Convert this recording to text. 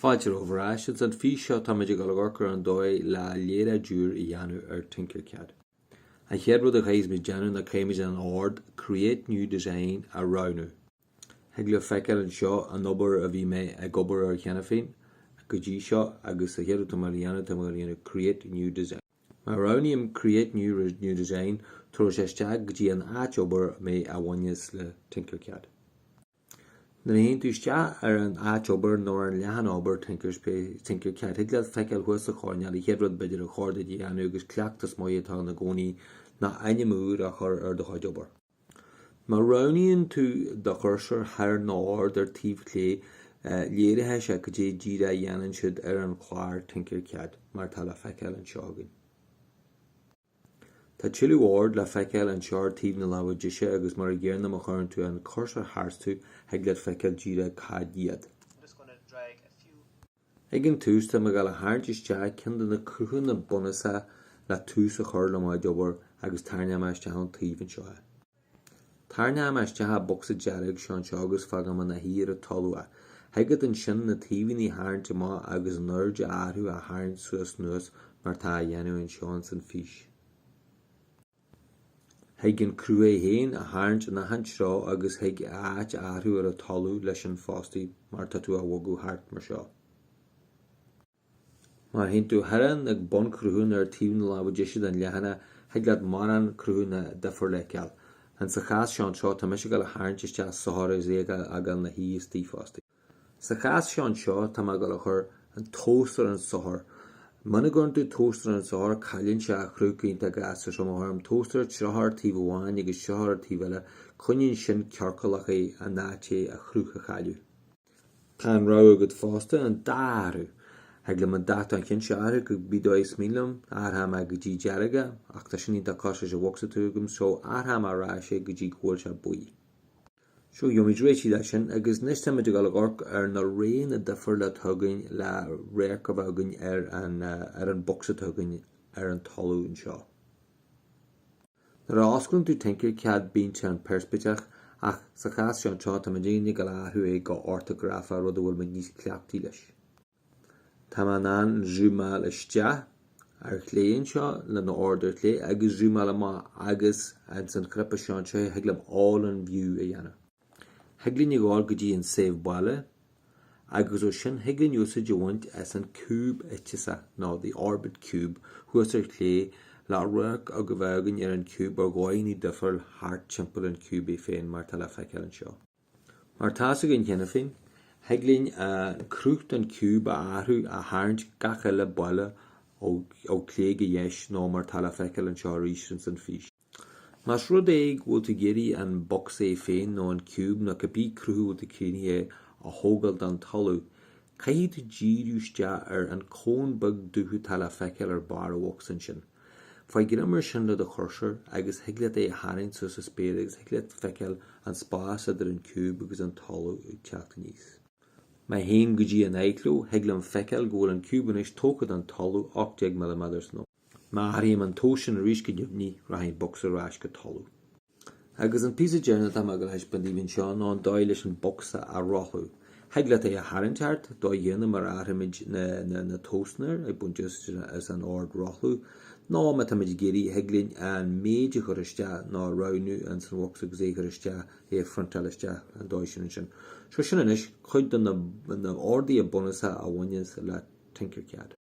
Fáilte romhaibh ar ais. Ins an fís seo táimid ag amharc ar an dóigh le léaráid úr a dhéanamh ar Tinkercad. An chéad rud a chaithfimid déanamh ná caithfimid an ord Create New Design a roghnú. Thig libh feiceáil anseo an obair a bhí mé ag obair air cheana féin go dtí seo agus an chéad rud atá mé ag dul a dhéanamh tá mé ag dul a dhéanamh Create New Design. Má roghnaím Create New Design tabharfaidh sé isteach go dtí an áit obair mé a bhaineas le Tinkercad. Nuair a théann tú isteach ar an áit obair nó ar an leathanach obair Tinkercad, thig leat feiceáil thuas sa choirnéal an chéad rud b'fhéidir ar chóir duit a dhéanamh agus cleachtas maith atá ann i gcónaí ná ainm úr a chur ar do chuid obair. Má roghnaíonn tú do chúrsóir thar na hoird ar taobh chlé, léireoidh sé cad é díreach a dhéanann siad ar an chlár Tinkercad, mar atá le feiceáil anseo againn. Tá tuilleadh ord le feiceáil anseo ar taobh na láimhe deise agus mar an gcéanna má chuireann tú an cursor tharstu thig leat feiceáil díreach cad iad. Ag an tús tá mé ag dul a tharraingt isteach ceann de na cruthanna bunúsacha le tús a chur le m'áit obair agus tarraingeoidh mé isteach ón taobh anseo é. Tarraingeoidh mé isteach an bocsa dearg seo anseo agus fágfaidh mé ina shuí ar an talamh é. Thig leat ansin na taobhannaí a tharraingt amach agus an airde a athrú á tharraingt suas anuas mar atá á dhéanamh anseo ins an fís. Thig an cruth é féin á tharraingt in achan treo agus thig a áit a athrú ar an talamh leis sin fosta mar tá tú á bhogadh thart mar seo. Má théann tú thar an ag bunchruthanna ar taobh na láimhe deise den leathanach, thig leat mórán cruthanna difriúla a fheiceáil. Ins sa chás seo anseo, tá mise ag dul a tharraingt isteach sorcóir is é a fhágáil ina shuí istigh fosta. Sa chás seo anseo, tá mé ag dul a chur an tomhas ar an sorcóir. Muna gcuireann tú tomhas ar an sorcóir, cailleann sé a chruth cinnte, agus so má athraím tomhas ar tríocha ar taobh amháin agus tríocha ar taobh eile, coinníonn sin ciorcalach é in áit é a chruth a chailleadh. Tá an rogha agat fosta an dath a athrú. Thig liom dath an chinn seo a athrú go cibé dóigh is mian liom, athróidh mé go dtí dearg é, ach tá sin iontach cosúil leis an bhocsa atá agam, so athróidh mé ar ais é go dtí go bhfuil sé buí. So gheobhaimid réitigh leis sin, agus anois táimid ag dul ag amharc ar na roghanna difriúla atá againn le radharc a bheith againn ar an ar an bocsa atá againn ar an talamh anseo. Nuair a osclaíonn tú Tinkercad bíonn sé in peirspictíocht ach sa chás seo anseo tá mé díreach ag dul a athrú é go ortagrafach rud a bhfuil mé níos cleachtaí leis. Tá mé in ann zúmáil isteach ar chlé anseo leis na hoird ar chlé agus zúmáil amach agus ins an chnaipe seo anseo thig liom all in view a dhéanamh. Thig linn a ghabháil go dtí an 'saobh baile agus ó sin thig linn úsáid a bhaint as an ciúb fithise, nó the orbit cube, thuas ar chlé, le radharc a bheith againn ar an ciúb ar dhóigheannaí difriúla thart timpeall an ciúb é féin mar atá le feiceáil anseo. Mar atá a fhios againn cheana féin, thig linn an cruth den ciúb a athrú, a tharraingt gach uile bealach ó chlé go deis, nó mar atá le feiceáil anseo arís ins an fhís. Más rud é go bhfuil tú ag iarraidh an box é féin nó an ciúb nó cibé cruth a bhfuil tú ag cruthú é a thógáil den talamh, caithfidh tú díriú isteach ar an cón beag dubh atá le feiceáil ar barr an bhocs ansin. Faigh greim air sin le do chursóir agus thig leat é a tharraingt suas sa spéir agus thig leat a fheiceáil an spás idir an ciúb agus an talamh ag teacht aníos. Má théim go dtí an aghaidhchló, thig linn a fheiceáil go bhfuil an ciúb anois tógtha den talamh, 18 milliméadar so. Má athraím an tomhas sin arís go neamhní, rachaidh an bocs ar ais go talamh. Agus an píosa deireanach atá mé ag gabháil a thaispeáint daoibh anseo ná an dóigh leis an bocsa a rothlú. Thig leat é a tharraingt thart, dóigh chéanna mar a athraímid na tomhasanna ag baint úsáid as an ord rothlú. Nó, má táimid ag iarraidh, thig linn an méid a chur isteach nó a roghnú ins an bhocsa agus é a chur isteach, é a phriontáil isteach an dóigh sin ansin. So sin anois cuid de na orduithe bunúsacha a bhaineanns le Tinkercad.